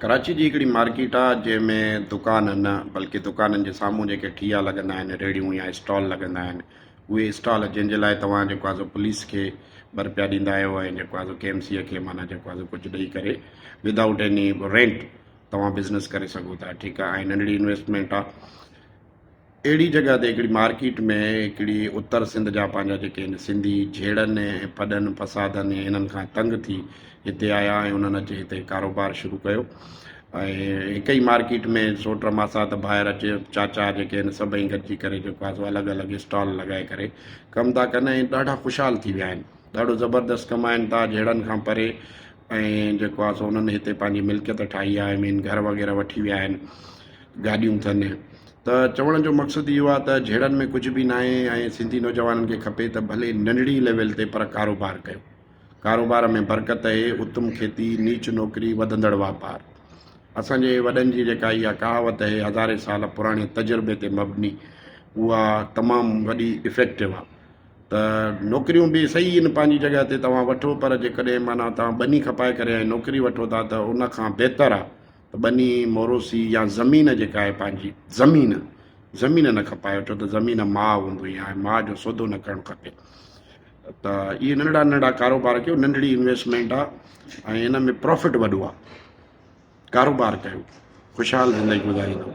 ڪراچي جي هڪڙي مارڪيٽ آ جنهن ۾ دڪان نه بلڪه دڪانن جي سامهون جيڪي ٺيا لڳندا آهن ريڙهيون يا اسٽال لڳندا آهن اهي اسٽال جن جي لاء توهان جيڪو آهي سو پوليس کي به رپيا ڏيندا آهيو ۽ جيڪو آهي سو ڪي ايم سيء کي معنيٰ جيڪو آهي سو ڪجهه ڏئي ڪري ودائوٽ ايني رينٽ توهان بزنس ڪري سگهو ٿا ٺيڪ آهي ۽ ننڍڙي انويسٽمينٽ آ اهڙي جڳهه تي هڪڙي مارڪيٽ ۾ هڪڙي اتر سنڌ جا پنهنجا جيڪي هن سنڌي جهيڙن ۽ ڦڏن فسادن ۽ هنن کان تنگ ٿي هتي آيا ۽ انهن اچي هتي ڪاروبار شروع ڪيو ۽ هڪ ئي مارڪيٽ ۾ سوٽ ماسات ڀائر اچي چاچا جيڪي هن سڀئي گڏجي ڪري جيڪو آهي سو الڳ الڳ اسٽال لڳائي ڪري ڪم ٿا ڪن ۽ ڏاڍا خوشحال ٿي ويا آهن ڏاڍو زبردست ڪمائن ٿا جهيڙن کان پري ۽ جيڪو آهي سو انهن هتي پنهنجي ملڪيت ٺاهي آهي مين گهر وغيره وٺي ويا آهن گاڏيون ٿن ته چوڻ جو مقصد اهو آهي ته جهيڙن ۾ ڪجهه به ناهي ۽ سنڌي نوجوانن کي کپي ته ڀلي ننڍڙي ليول تي پر ڪاروبار ڪيو ڪاروبار ۾ برڪت اهي اتم کيتي نيچ نوڪري وڌندڙ واپار اسان جي وڏن جي جيڪا اها ڪهاوت اهي هزارين سال پراڻي تجربي تي مبني اها تمام وڏي افيڪٽو آهي ته نوڪريون به صحيح آهن پنهنجي جڳهه تي توهان وٺو پر جيڪڏهن معنيٰ توهان ٻني کپائي ڪري ۽ نوڪري وٺو ٿا ته ان کان بهتر آهي ٻني، موروثي يا زمين جيڪا آهي پنهنجي زمين، زمين نه کپايو ڇو ته زمين ماء هوندي آهي ماء جو سودو نه ڪرڻ کپي ته اهي ننڍڙا ننڍڙا ڪاروبار ڪيو ننڍڙي انويسٽمينٽ آهي ۽ ان ۾ پروفٽ وڏو آهي ڪاروبار ڪيو خوشحال زندگي گذاريندو